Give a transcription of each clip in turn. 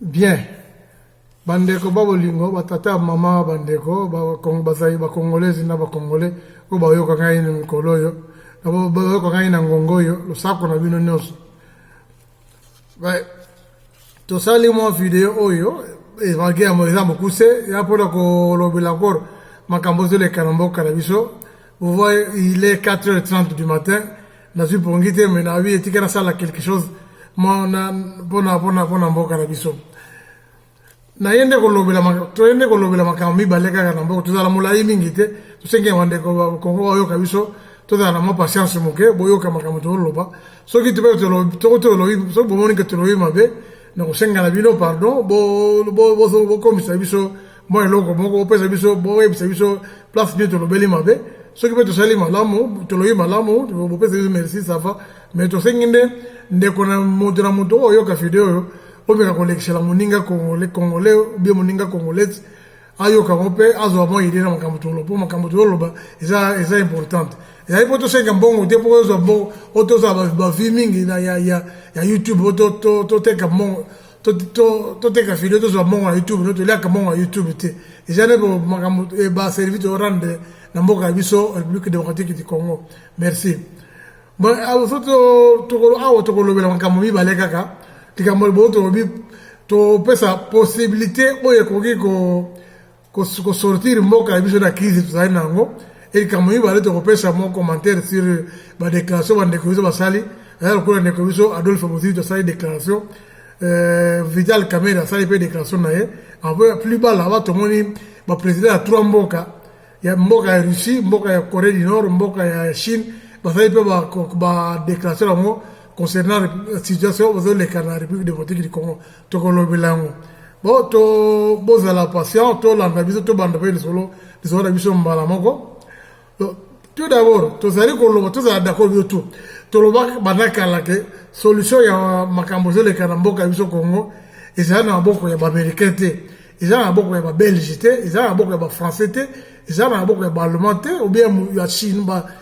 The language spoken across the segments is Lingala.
Bien bandeko ba bolingo ba tata mama bandeko bazali ba congolaises na ba congolais oyo bayoka ngai na mikolo oyo bayoka ngai na ngongo oyo losako na bino nyonso tosali mwa video oyo evage yango eza mokuse ya mpona kolobela nkoro makambo ezoleka na mboka na biso Vous voyez, il est 4h30 du matin. Nazui pongi te, mais nabi etika nasala quelque chose. Mona, pona, pona, pona mboka na biso. naye nde kolobela toye nde kolobela makambo mibale kaka na mboka tozala molai mingi te tosengeli bandeko bakongo bayoka biso tozala na mwa patience moke boyoka makambo toloba soki tope tolobi soki bomoni ke tolobi mabe na kosenga na bino pardon bokomisa biso mwa eloko moko bopesa biso boyebisa biso place nini tolobeli mabe soki mpe tosali malamu tolobi malamu bopesa biso merci sava mais tosengi nde ndeko na moto na moto oyo oyoka video oyo omeka kolekisela moninga congolais obie moninga congolais ayoka yango mpe azwa mwa ide na makambo toloba mpo makambo toloba eza eza importante ezali mpo tosenga mbongo te mpo ozwa mbongo oyo tozala bavi mingi ya youtube oyo toteka mbongo toteka video tozwa mbongo ya youtube no toliaka mbongo ya youtube te eza nde makambo eh, baservice torande na mboka ya biso république démocratique du congo merci so awa tokolobela makambo mibale kaka likambo liboyo tolobi topesa possibilité oyo ekoki ko sortir mboka na biso na crise tozali na yango e likambo mibale tokopesa mwa commentaire sur ba déclaration bandeko biso basali aya lokola ndeko biso adolphe mozito asali déclaration euh, vital kamere asali mpe déclaration na ye plus bas là-bas tomoni baprésident ya trois mboka ya mboka ya russie mboka ya corée du nord mboka ya chine bazali mpe badéclaration yango concernant situation bazoleka na république démocratique du congo tokolobela yango bo to bozala patient tolanda biso tobanda mpe lisolo lisolo na biso mbala moko tout d'abord tozali koloba tozala d'accord biso tout tolobaka banda kala ke solution ya makambo ezoleka na mboka ya biso congo ezali na maboko ya baaméricain te eza na maboko ya babelge te eza na maboko ya bafrançais te eza na maboko ya baallemand te obia ya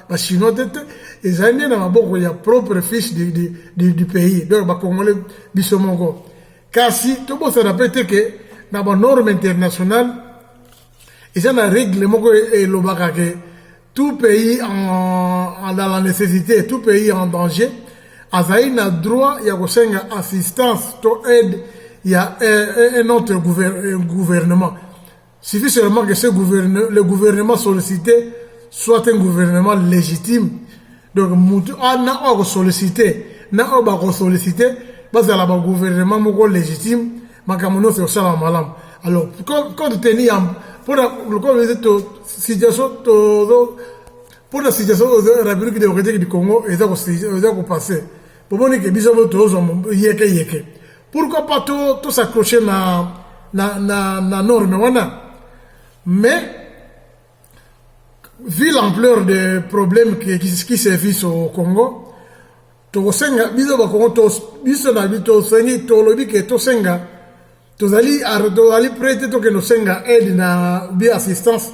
bachinois te te ezali nde na maboko ya propre fiche du, du, du, du pays donc bacongolais biso moko kasi tobosana mpe te ke na banorme internationale eza na regle moko elobaka ke tout pays en, dans la nécessité tout pays en danger azali na droit ya kosenga assistance to aide ya eh, un autre eh, gouvernement suffit seulement que ce gouverne, le gouvernement sollicité soit un gouvernement légitime donc mutu ana oyo akosollicite na oyo bakosollicite bazala bagouvernement moko légitime makambo nyonso ekosalama malamu alors compte tenu ya mpona lokola eze situation tozo mpona situation oyo république démocratique du congo eza kopasse bomoni ke biso moko tozwa yeke yeke pourquoi pas tosacroche na, na, na, na norme wana mais vu l'ampleur des problèmes qui, qui, qui se vise au congo tokosenga biso bakongo biso na bi tosengi tolobi ke tosenga tozali tozali prêt te tokende osenga aide na bi assistance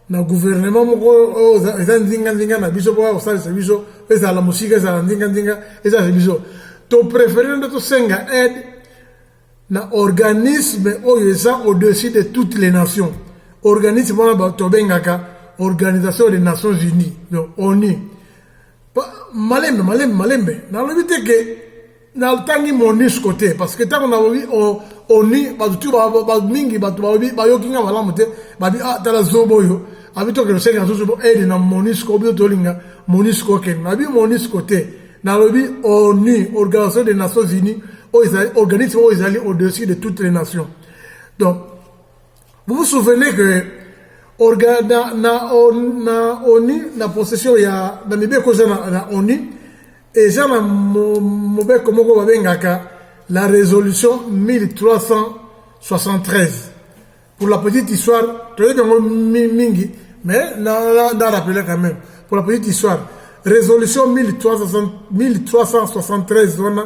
na gouvernement moko oyo eza nzinganzinga na biso mpo kosalisa biso ezala mosika ezala nzinganzinga ezalisa biso topréféré nde tosenga aide na organisme oyo eza au-dessus de toutes les nations organisme wana tobengaka organisation des nations unies donc onu malembe malembe malembe nalobi te ke natangi monusco te parce que ntango nalobi oni bato tu mingi bato balobi bayoki nga malamu te babi ah, tala zobo oyo abi tokende osengi na zozobo aide eh, na monusco obi tolinga monusco okende nabi monusco te nalobi onu organisation des nations unies oyo ezali organisme oyo ezali au-dessus de toutes les nations donc Vous vous souvenez que orga, na, na, on, na ONU, na possession ya na mibeko eza na, na ONU, eza na mobeko moko babengaka la résolution 1373. Pour la petite histoire, toyebi yango mingi, mais na, na, na rappeler quand même. Pour la petite histoire, résolution 1373 wana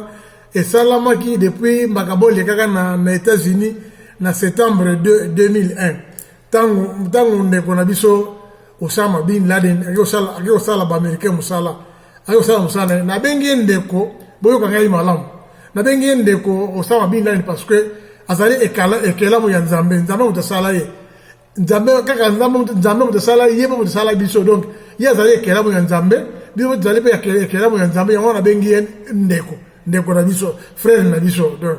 esalamaki depuis makambo olekaka na, na États-Unis na septembre 2, 2001 ntango ntango ndeko na biso Osama bin Laden ake kosala baamericain mosala ake kosala mosala na ye nabengi ye ndeko boyoka ngai malamu nabengi ye ndeko Osama bin Laden parce que azali ekelamu ya Nzambe Nzambe moto asala ye nzambe kaka nzambe nzambe moto asala ye mpe moto asala biso donc ye azali ekelamu ya nzambe biso mpe tozali mpe ekelamu ya nzambe yango wana abengi ye ndeko ndeko na biso frere na biso donc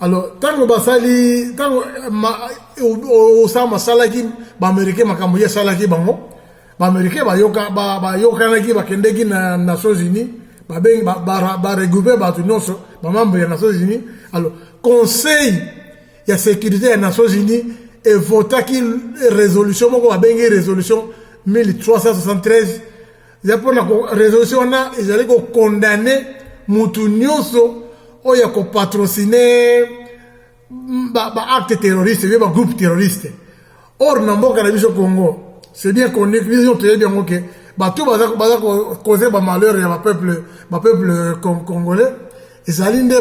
alors ntango basali ntango osama asalaki baamericain makambo ye asalaki bango baamericain bayokanaki bakendeki na nations unis babengi baregroupe bato nyonso bamambre ya nations unis alors conseil ya securite ya nations unis evotaki resolution moko babengi resolution 1373 eza mpona resolution wana ezali kokondane motu nyonso oyo ya kopatrocine baacte terroriste oyo bagroupe terroriste or na mboka na biso congo c'est bien connu biso nyonso toyebi yango ke bato baza cause bamalheur ya bapeuple bapeuple euh, congolais ezali nde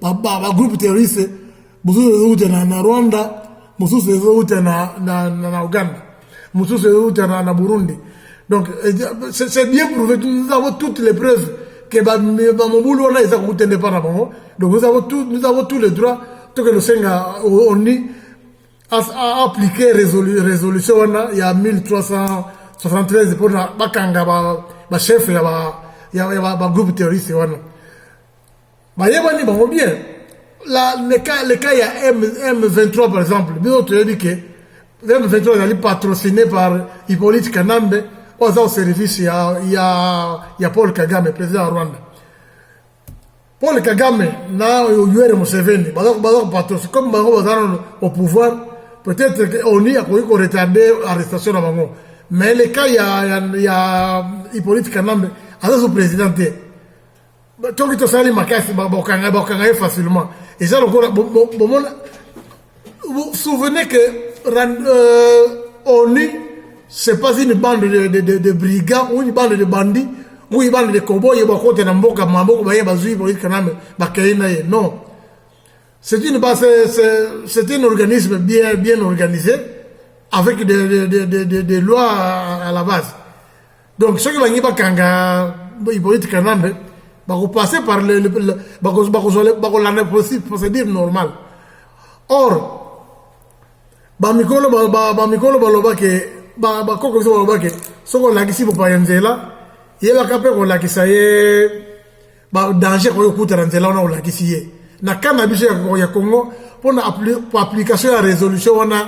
bagroupe terroriste mosusu ezouta na rwanda mosusu ezouta na uganda mosusu euta na, na burundi donc c'est bien prouvé nous avons toutes les preuves que bamobulu wana eza kokuta nde mpa na bango donc nous avons tout, nous avons tous les droits toke losenga oni appliquer résolu, résolution wana ya 1373 mpona bakanga bachef ba ya bagroupe ba, ba terroriste wana bayebani bango bien la le cas le cas ya M, M23 par exemple biso toyebi ke M23 ezali patrocine par Hippolyte Kanambe oyo aza au service ya, ya, ya Paul Kagame président ya Rwanda Paul Kagame na Yoweri Museveni baza baza patrocine comme bango baza nano au pouvoir peut-être que ONU akoki ko retarder arrestation na bango mais le cas ya, ya, ya Hippolyte Kanambe aza sous président te toki tosali makasi bokanga bokanga ye facilement eza lokola bomona vous souvenez que euh, onu c'est pas une bande de, de, de, de brigands ou une bande de bandits ou une bande de coboye bakota na mboka maboko baye bazwi boyi kaname bakei na ye non c'est une base c'est un organisme bien bien organisé avec des, des, des, des, des lois à la base donc soki balingi bakanga hypolite kanambe bakopase par bakolanda procédure normale or bamikolo bamikolo baloba ke bakoko biso baloba ke soki olakisi bopaya nzela yebaka mpe kolakisa ye badanger koki kokutana nzela wana olakisi ye na kanda biso ya congo mpona application ya résolution wana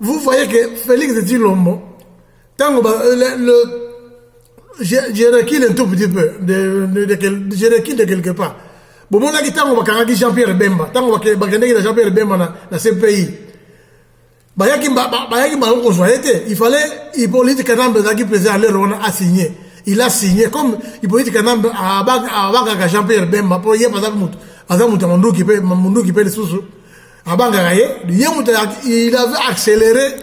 Vous voyez que Félix Tshilombo, tango ba, euh, le, le, je, je recule un tout petit peu, de, de, de, de, je recule de quelque part. bomonaki ntango bakangaki jean pierre bemba ntango bakendeki na jean pierre bemba na, na cpi bayaki bayaki bango kozwa ye te il fallait hippolyte kanambe azalaki président alere wana asigne il a signé comme hippolyte kanambe abangaka jean pierre bemba mpo ye aza moto aza moto ya monduki mpe monduki mpe lisusu abangaka ye ye moto il avait accéléré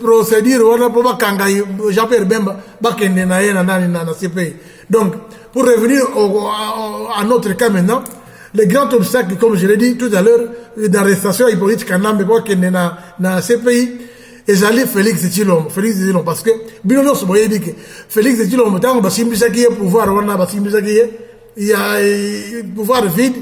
procédure wana mpo bakanga jean pierre bemba bakende na ye na nani na cpi donc pour revenir au, à, à notre cas maintenant le grand obstacle comme je l'ai dit tout à l'heure d'arrestation hypolite kanambe mpo akende na, na cpi ezali félix tshilombo félix tshilombo parce que bino nyonso boyebi ke félix tshilombo ntango basimbisaki ye pouvoir wana basimbisaki ye ya pouvoir vide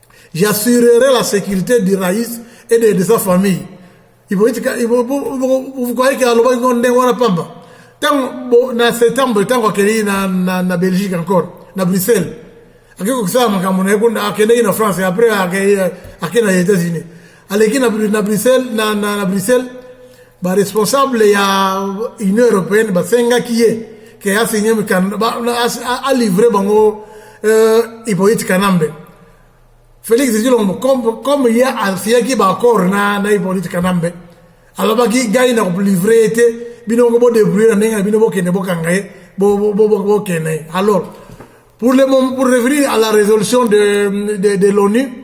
J'assurerai la sécurité du Raïs et de, de sa famille. Vous croyez qu'il y a le monde de Warapamba Tant na septembre, tant qu'on est na, na, na Belgique encore, na Bruxelles. Akiko kusama makambo na yekunda akende na France après akende na États-Unis. aleki na, na bruxelles na, na, na bruxelles baresponsable ya union européenne basengaki ye ke asigne alivre bango euh, hypolite kanambe félix tshilombo comme, comme ye asiyaki baaccord na, na hypolite kanambe alobaki gai na kolivre ye te bino moko bodebrouille na ndenge na bino bokende bokanga ye bokende ye alors pour, le, pour revenir à la résolution de, de, de l'onu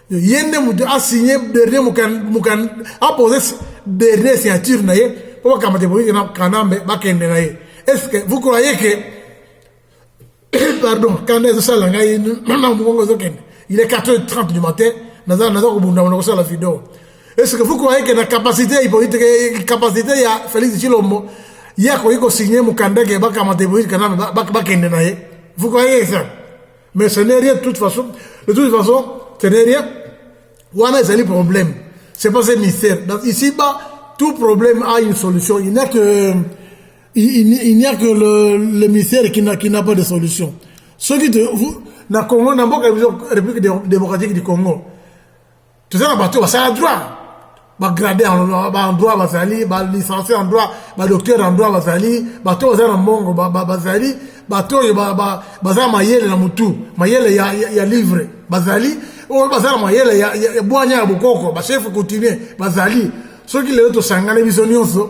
ye nde moto asigne dernier mokanda apose dernier signature na ye mpo bakamata epolitike na kanambe bakende na ye est ce que vous croyez que pardon kanda ezosala ngai na mongongo ezokende il est 4 h 30 du matin naza naza kobundama na kosala video est ce que vous croyez que na capacité ya ipolitike capacité ya félix tshilombo ye akoki kosigne mokanda ke bakamata epolitike kanambe bakende na ye vous croyez ça mais ce n'est rien de toute façon de toute façon ce n'est rien wana ezali problème c'est pas un mystère donc ici bas tout problème a une solution il n'y a que il, il n'y a que le, le mystère qui n'a qui n'a pas de solution soki te na Congo na mboka biso République démocratique du Congo toza na bato basala droit bagrade en droit bazali balicencie en droit badocteur en droit bazali bato baza na mbongo bazali bato oyo baza mayele na motu mayele ya livre bazali oyo baza na mayele ya bwanya ya bokoko bachef coutumier bazali soki lelo tosangani biso nyonso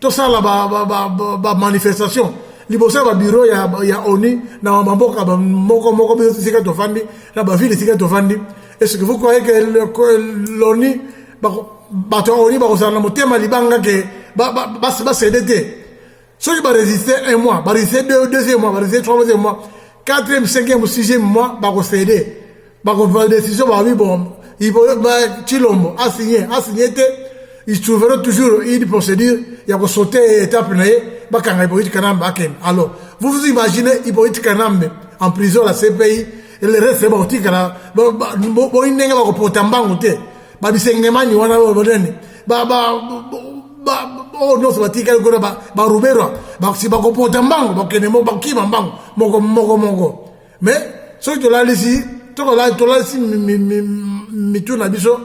tosala ba, ba, ba, ba, ba manifestation liboso ya babiro ya, ya oni na bamboka moko moko biso esika tofandi na bavile esika tofandi eske vous croyez que loni bato ya oni bakozala na motema libanga ke basede te soki baresiste un mois baresiste deuxième mois baresiste troisième mois quatrième cinquième sixième mois bakosede bakozwa decision babi bombe chilombo asigne asigne te isouvere toujours une procédure ya kosaute étape na ye bakanga hypocrite kanambe akende alors vous vous imaginez hypocrite kanambe en prison à la cpi le reste bakotikala boyi ndenge bakopota mbangu te babisengemani wana bonene oyo nyonso batikali kuna baruberwa bakopota mbangu bakende bakima mbangu moko moko moko me soki tolalisi tolalisi mitu na biso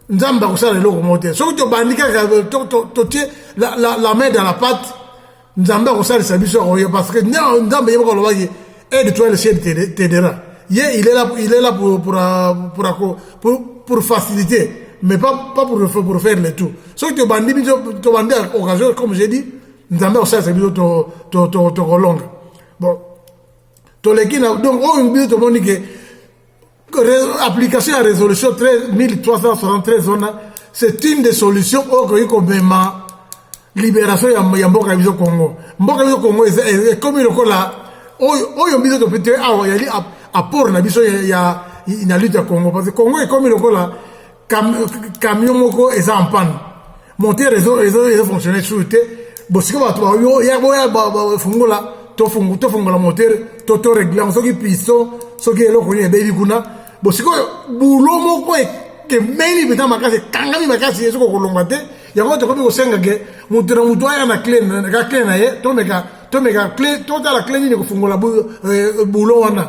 nzambe akosala eloko moko te soki tobandi kaka totie la main dans la pate nzambe akosalisa biso akoyo parce que nzambe ye moko alobaki aide toi le ciel t'aidera ye il est là, il est là pour, pour, pour, pour, pour faciliter mais pas, pas pour, pour faire le tout soki tobandi biso tobandi occasion comme j'ai dit nzambe akosalisa biso tokolonga bon toleki na donc oyo biso tomoni ke application ya résolution 1373 wana c'est une des solutions oyo okoki komema libération ya mboka ya biso congo mboka biso congo ekomi lokola oyo biso topete awa yali apport na biso ya na lutte ya congo parce que congo ekomi lokola camion moko eza en panne monte reseau ezo ezo fonctionner sur te bosika bato bayo ya boya bafungola tofungu tofungola moteur to to règlement soki piston soki eloko nini ebebi kuna bosika oyo bulo moko ekemeli mpenza makasi ekangami makasi ezo kokolonga te yango tokomi kosenga ke moto na moto aya na cle ka cle na ye tomeka tomeka cle totala cle nini kofungola bulo wana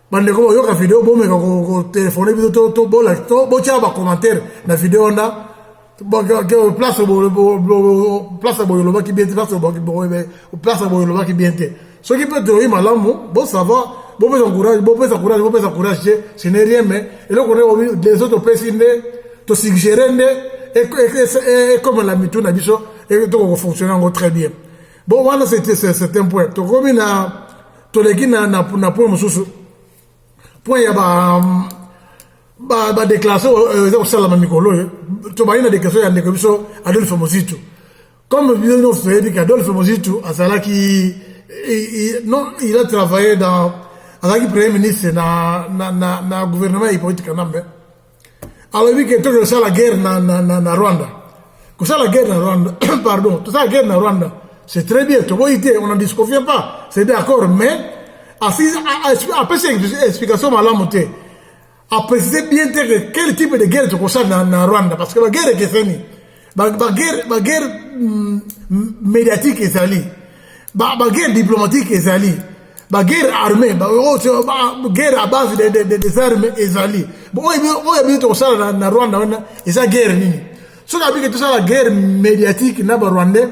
bandeko boyoka video bomeka kotelefone biso tobola botyaka bacommentaire na video wana place boye olobaki bien te place boye olobaki bien te soki mpe toyoki malamu bosavoir bopesa courage bopesa courage bopesa courage te ce n'est rien mais eloko nde deso topesi nde tosuggere nde ekomela mitu na biso tokokofonctionne yango très bien Bon, wana c'est un certain point. Tokomi na toleki na na na point mosusu. Point ya ba ba ba déclaration euh, eza kosalama mikolo oyo. Tobali na déclaration ya ndeko biso Adolphe Mozito. Comme bino nyonso toyebi ke Adolphe Mozito azalaki non il a travaillé dans azalaki premier ministre na na na, na gouvernement ya Hippolyte Kanambe. alobi ke toke kosala guerre na, na, na, na rwanda kosala guerre na rwanda pardon tosala guerre na rwanda c'est très bien toboyi te on en disconvient pas c'est d'accord mais apesi explication malamu te aprécise bien te que quel type de guerre tokosala na, na rwanda parce que baguerre ekeseni baguerre ba guerre, mm, mm, médiatique ezali baguerre diplomatique ezali baguerre armée guerre à base de, de, de, des armes ezali oyo ebini tokosala na, na rwanda wana eza guerre nini soki abiki tosala guerre médiatique na barwandais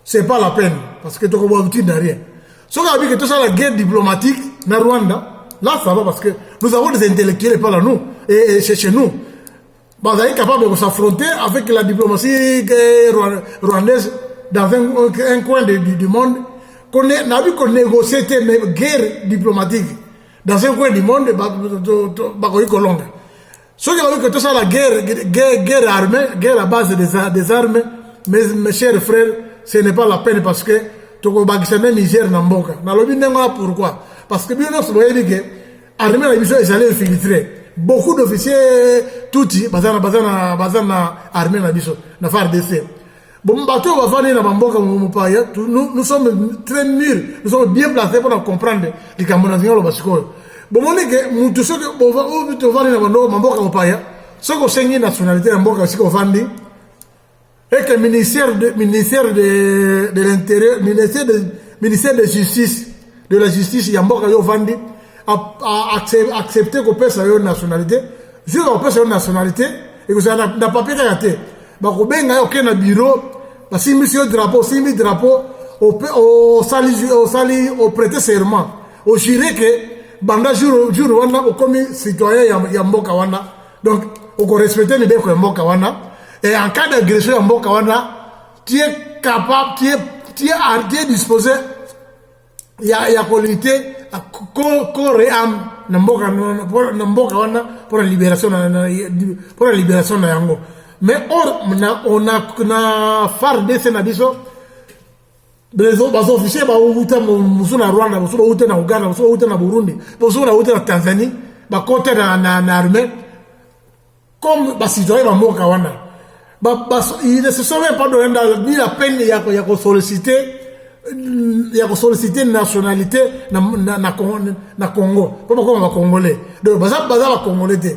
c'est pas la peine parce que tokoboa bitine na rien soki abiki tosala guerre diplomatique na rwanda là ça va parce que nous avons des intellectuels par là nous et, et chez nous bazali capable de s'affronter avec la diplomatie rwandaise dans un, un coin de, du, du monde nabi konégocier te mais guerre diplomatique dans un coin du monde bakoki kolonga soki bakoki que tout ça la guerre, guerre, guerre armée, guerre à base des, des armes, mes, mes chers frères, ce n'est pas la peine parce que tokobakisa nde misère na mboka nalobi ndenge wana pourquoi parce que bino nyonso boyebi ke armée na biso ezali infiltre beaucoup d'officiers tuti baza na baza na baza na armée na biso na FARDC bon bato oyo bafandi na bamboka mopaya nous sommes très mûrs nous sommes bien placés mpona comprendre likambo na zinga oloba sikoyo bomoni ke motu soki ovandi na bamboka mopaya soki osengi nationalité ya mboka esika ovandi et que ministère de, ministère de, de l'intérieur ministère de, ministère de justice de la justice ya mboka yo vandi accepte kopesa yo nationalité jour bakopesa yo nationalité ekozala na, na papier kaka te bakobenga yo oke na bureau basimbisi yo drapeau osimbi drapeau osali osali oprete serment ojure ke banda jour jour wana okomi citoyen ya, ya mboka wana donc okorespecte mibeko ya mboka wana et en cas d'agression ya mboka wana tu es capable tu es, tu es, tu es disposé ya, ya kolite kore ame na mboka na mboka wana mpo na liberation mpo na liberation na yango mais or na, na, na fardc na biso bazofisie bauta mosusu na rwanda mosusu bauta na uganda mosusu bauta na burundi mosusu bauta na tanzanie bakota na armée comme basitoye bamboka wana il ne se sont même pas donné ni la peine ya kosollicite ya kosollicite nationalité na congo mpo bakoma bacongolais donc baza bacongolais te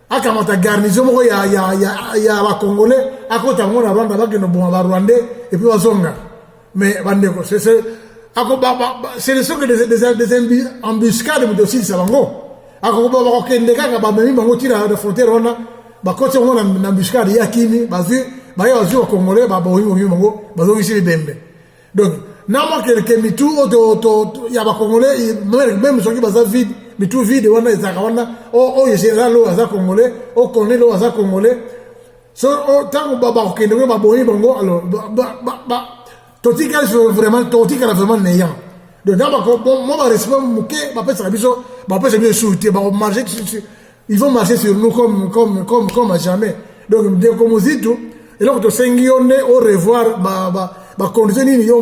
akamata garnison moko ya, ya, ya, ya bacongolais akota yango na rwanda bakende boma barwandais epuis bazonga mais bandeko ce ne sont que des, des, des embuscade moto osilisa bango akokoba bakokende kaka bamemi bango ti na frontière wana bakoti yango na embuscade ya kimi bazwi baye bazwi bacongolais baboyimoyimi bango bazongisi bibembe donc na mwa kelke mitu oyo ya bacongolais meme soki baza vide mitu vide wana ezalaka wana oyo général oyo aza congolais oyo colonel oyo aza congolais so ntango bakokende koyo baboni bango alors totikali vraiment totikala vraiment nayant donc na mwa barespect moke bapesaka biso bapesa biso esuru te bakomarge ils vont marcher sur nous comme, comme, comme, comme à jamais donc ndeko mozito eloko tosengi yo nde o revoir bacondition nini yo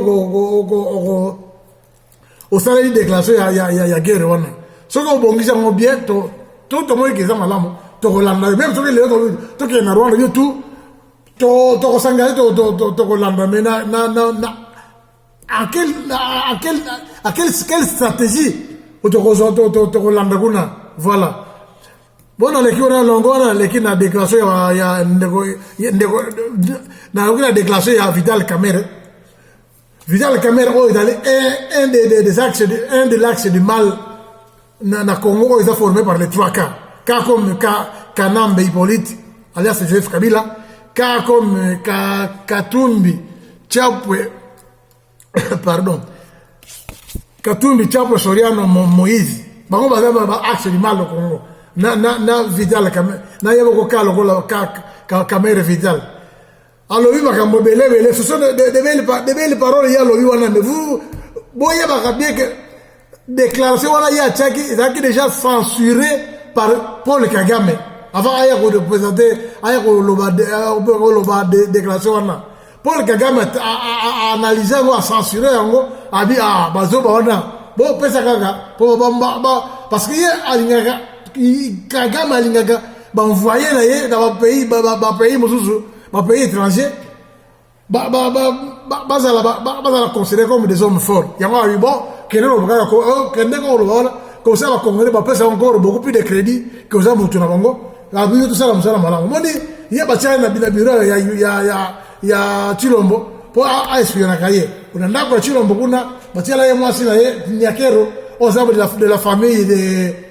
osaleli déclaration ya, ya, ya, ya guerre wana soki obongisi yango bien to tomoyiki eza malamu tokolanda yo meme soki lelo tokende na rwanda yo tu tokosangana tokolanda me na à quel, à quel, à quel, quelle stratégie tokolanda kuna voilà mpo naleki wana longo wana naleki na déclaration ya, ya ndeko, ndeko nayoki na déclaration ya vital camere vital camere oyo ezali un, un, de, de, des axes, un de l'axe du mal na, na Congo oyo eza formé par les trois cas cas comme cas Kanambe Hippolyte alias Joseph Kabila cas comme euh, ka, Katumbi Chapwe pardon Katumbi Chapwe Soriano Moïse bango baza ba axe du mal au Congo na na na Vidal na yeboko ka lokola ka Kamere Vidal alobi makambo belebele ce sont de belle parole ye alobi wana mais vous boyebaka bien que déclaration wana ye atiaki ezalaki déjà censuré par paul kagame avant aya korepresente aya koloba euh, déclaration wana paul kagame analyse yango acensuré yango abi ah, bazoba wana bopesa kaka parce que ye alingaka kagame alingaka ba envoyer na ye na ba pays ba, ba, ba pays mususu ba pays étrangers ba ba ba bazala ba, ba, bazala considéré comme des hommes forts yango ayi bon kende loba kaka ko oh, kende ko loba wana comme ça ba congolais ba pesa encore beaucoup plus de crédit que oza mutu na bango la biso tosala mosala malamu moni ye batiaka na bina biro ya ya ya ya Chilombo po a espionaka ye kuna ndako ya Chilombo kuna batiala ye mwasi na ye Nyakero aux arbres de la, de la famille de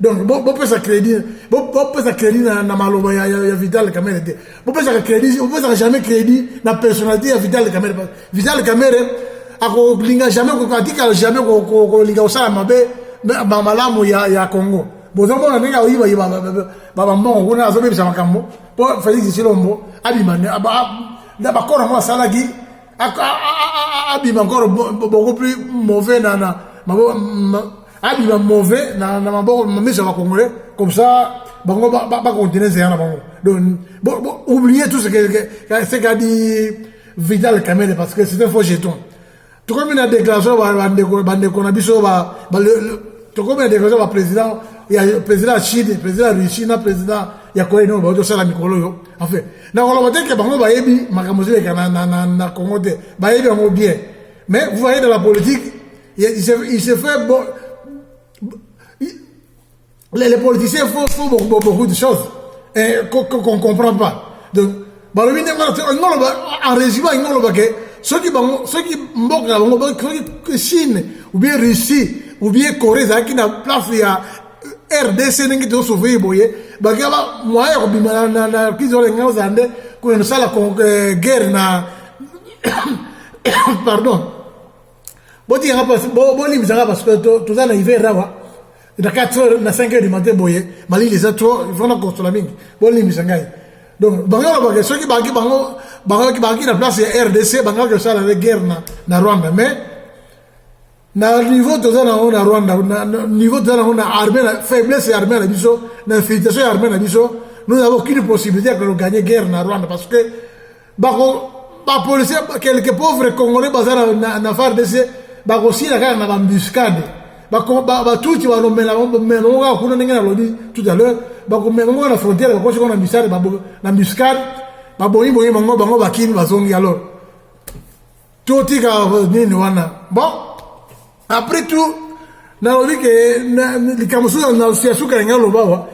donc bopesa crédit bopesa crédit na, na maloba ya, ya, ya vital kamere te bopesaka crédit bopesaka jamais crédit na personnalité ya vital kamere vital kamere akolinga jamais atikala jamais kolinga kosala mabe malamu ya, ya congo bozomona ndenge aoyibayiba bambongo kuna azobebisa makambo mpo félix silombo abima na bakoro yango asalaki abima encore beaucoup plus mauvais na na maboko abima mauvais na na maboko miso ya congolais comme ça bango ba ba continuer zela bango donc bon, bon oubliez tout ce que ce qu'a dit Vital Kamere parce que c'est un faux jeton tokomi na déclaration bandeko bandeko na biso ba tokomi na déclaration ba président ya président ya Chine président ya Russie na président ya Corée du Nord baoki kosala mikolo oyo enfin nakoloba te ke bango bayebi makambo ezoleka na, na, na, na congo te bayebi yango bien mais vous voyez dans la politique il se, il se fait bon, les, les politiciens font, font beaucoup, beaucoup de choses qu'on qu qu comprend pas donc balobi ndenge ngoloba en résumant ngoloba ke soki bango soki mboka na bango soki chine ou bien russie ou bien corée ezalaki na place ya rdc ndenge tozosoveye boye bakia moyen ya kobima na kizi oyo elingi ozala nde kuna nosala eh, guerre na pardon botikanga mpasi bolimbisanga parce que toza na hiver awa na 4 heures na 5 heures du matin boye malili eza trop ifona kosola mingi bolimbisa ngai donc bango balobaka soki baki bango bangaki na place ya rdc bangaki kosala le guerre na rwanda mais na niveau toza nango na rwanda niveau toza nango na armée na faiblesse ya armée na biso na infiltration ya armée na biso nous avons aucune possibilité ya kogagner guerre na rwanda parce que bako bapolicier quelques pauvres congolais baza na, na fardc bakosila kaka na bambuscade batuti balomela bomema moko kaka kuna ndenge nalobi tout à l'heure bakomema moko na frontière bakosi ko na mbisade na mbuscade babongi bongi bango bango bakimi bazongi alors totika nini wana bon après tout nalobi ke likambo soki na siasuka yange aloba wa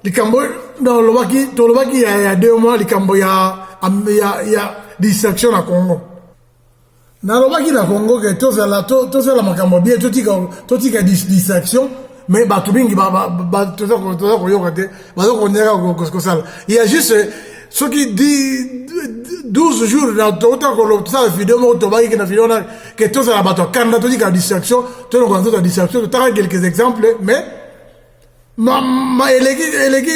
likambo nalobaki tolobaki ya, ya deux mois likambo ya, ya, ya distraction na congo nalobaki na congo ke tozala to, tozala makambo bien totika, totika distraction mais bato mingi toza koyoka te baza konyaka kosala ya juste soki 12 jours na tokota kosala video moko tobaki na video wana ke tozala bato ya kanda totika distraction tolongola nzoto ya distraction totaka quelques exemples mais eleki eleki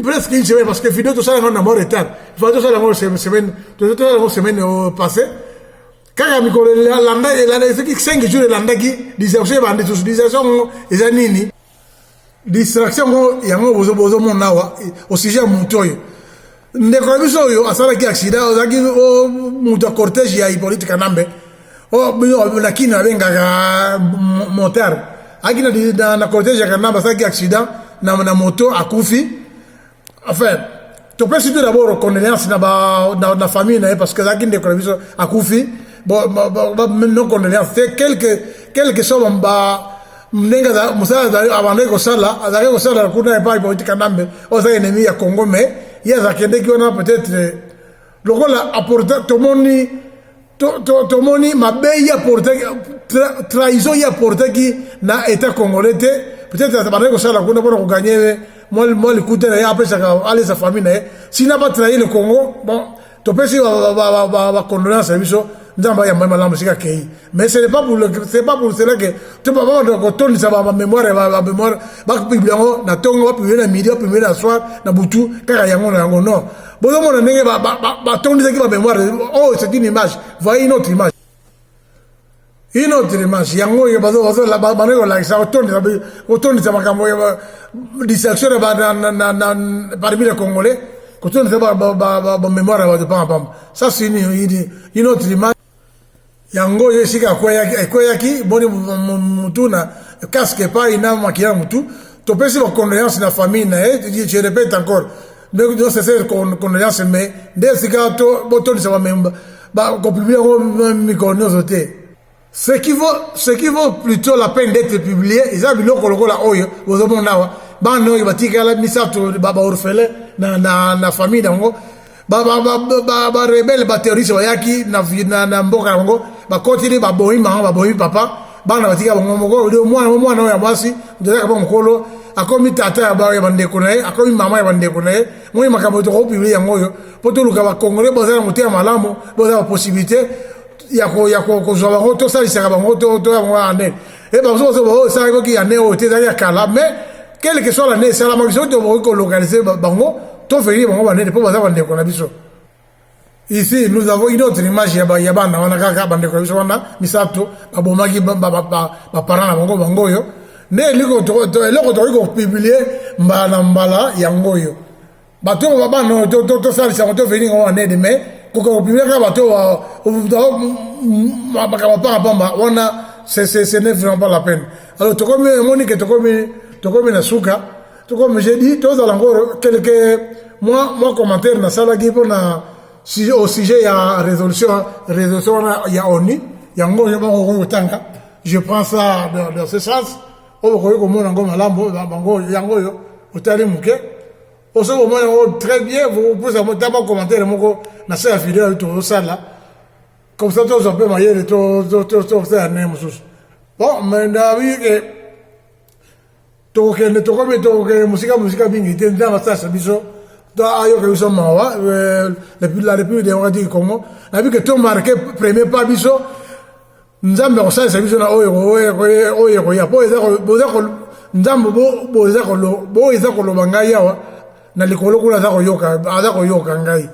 presque une semaine parce que video tosala yango na mo retard fa tosala yango semaine tosala yango semaine passée kaka mikolo elanda elanda soki 5 jours elandaki distraction ebandi susu distraction yango eza nini distraction yango yango bozomona awa au sujet ya moto oyo ndeko na biso oyo asalaki accident ozalaki moto ya cortège ya hippolyte kanambe na kini abengaka motar aki na cortège ya kanambe asalaki accident na moto akufi enfin topesi mpe dabord condoléance na, ba, na, na famille na ye parce que azalaki ndeko na biso akufi no condoléance te quelque quelque soit ba ndenge mosala abandaki kosala azalaki kosala kuna epai bauti kanambe oyo azalaki enemi ya congo mais ye azakendeki wana peut-être lokola aporta tomoni tomoni mabe ye aportaki trahison ye aportaki na état congolais te peut-être abandaki kosala kuna mpona koganye mwa likuta na ye apesaka alesa famille na ye sina batrahi le congo bon topesi bacondolence na biso nzambe ayamba ye malamu esika akei mais ce n'est pas pour c'est pas pour cela que to babanda kotondisa bamémoire ya bamémoire bapublie yango na ntongo bapublie na midi bapublie na soir na butu kaka yango na yango non bozomona ndenge batondisaki ba mémoire oh c'est une image voyez une autre image une autre image yango oyo banoki kolakisa kotondisa makambo ya distraction parmi les congolais kotondisa bamémoire ya bato pamba pamba ça c'est une autre image yango ye esika akweyaki ekweyaki boni mutu na casque epai na makiya mutu topesi bacondoleance na famille na ye je répète encore ndenge nyonso ese condoleance mais nde esika botondisa bamemba bakopublie yango mikolo nyonso te ce qui vaut ce qui vaut plutôt la peine d'être publié eza biloko lokola oyo bozomona awa bana oyo batikala misato baorphelin na, na, na famille na yango barebele baterroriste bayaki na mboka yango bakotili babomi mama babomi papa bana batika bango moko mwana mwana oyo ya mwasi ndozaka ba mokolo akomi tata ya baoyo ya bandeko na ye akomi mama ya bandeko na ye moi makambo tokopibli yango oyo mpo toluka bakongole boza na motema malamu boza bapossibilité ya kozwa bango tosalisaka bango toya bango ane e bamosusu baoyo esalaki oki ane oyo te ezali ya kala mais quelle que soit l'année esalamaki soki tokoki kolocalize bango toverifie bango banene mpo baza bandeko na biso ici nous avons une autre image ya bana wana kaka bandeko na biso wana misato babomaki baparent na bango bango oyo nde eloko tokoki kopublie mbala na mbala yango oyo bato oyo babano tosalisa yango toveni yango na nene mai kokopimaka bato makambo mpaka mpamba wana ce n'est vraiment pas la peine alors tokomi emoni ke tokomi tokomi na suka tokomi je dis tozala yango quelque mwa mwa commentaire nasalaki mpo na au sujet ya résolution résolution wana ya onu yango yo moko okoki kotanga je prends ça dans, dans ce sens oyo okoki komona yango malamu bango yango oyo otali moke osoki komona yango très bien vokopusa ta mwa commentaire moko na se ya video oyo tozosala comme ça tozwa mpe mayele tosala ndenge mosusu bon mais nabii ke tokokende tokomi tokokende mosika mosika mingi te nzambe asalisa biso ayoka biso mawa euh, la république démocratique du congo nabii ke tomarke premier pas biso nzambe akosalisa biso na oyo oyo ekoya mpo nzambe oyo eza koloba ngai awa na likolo kuna aza koyoka ngai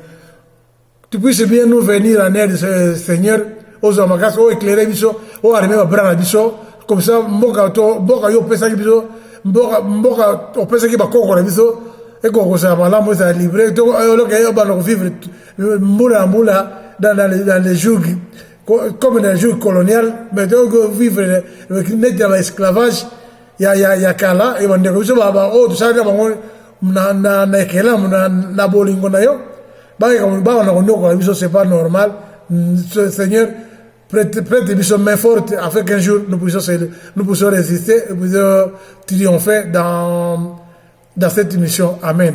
tu puisse bien nous venir en aide seigneur ozwa makasi oyo éclaire biso oyo arime babra na biso comme ça mboka to mboka yo opesaki biso mboka mboka opesaki bakoko na biso ekoka kozala malamu ezala libre to oloka yo bana kovivre mbula na mbula dans les jours comme dans le jour colonial mais donc euh, vivre neti na baesclavage ya, ya, ya kala e bandeko biso baoyo tosalaka bango na, na, na ekelamu na, na bolingo na yo bakana konyokola biso c'est pas normal seigneur prête, prête biso main forte afin qu'un jour nous puissions, nous puissions résister nous puissions triompher dans, dans cette mission amen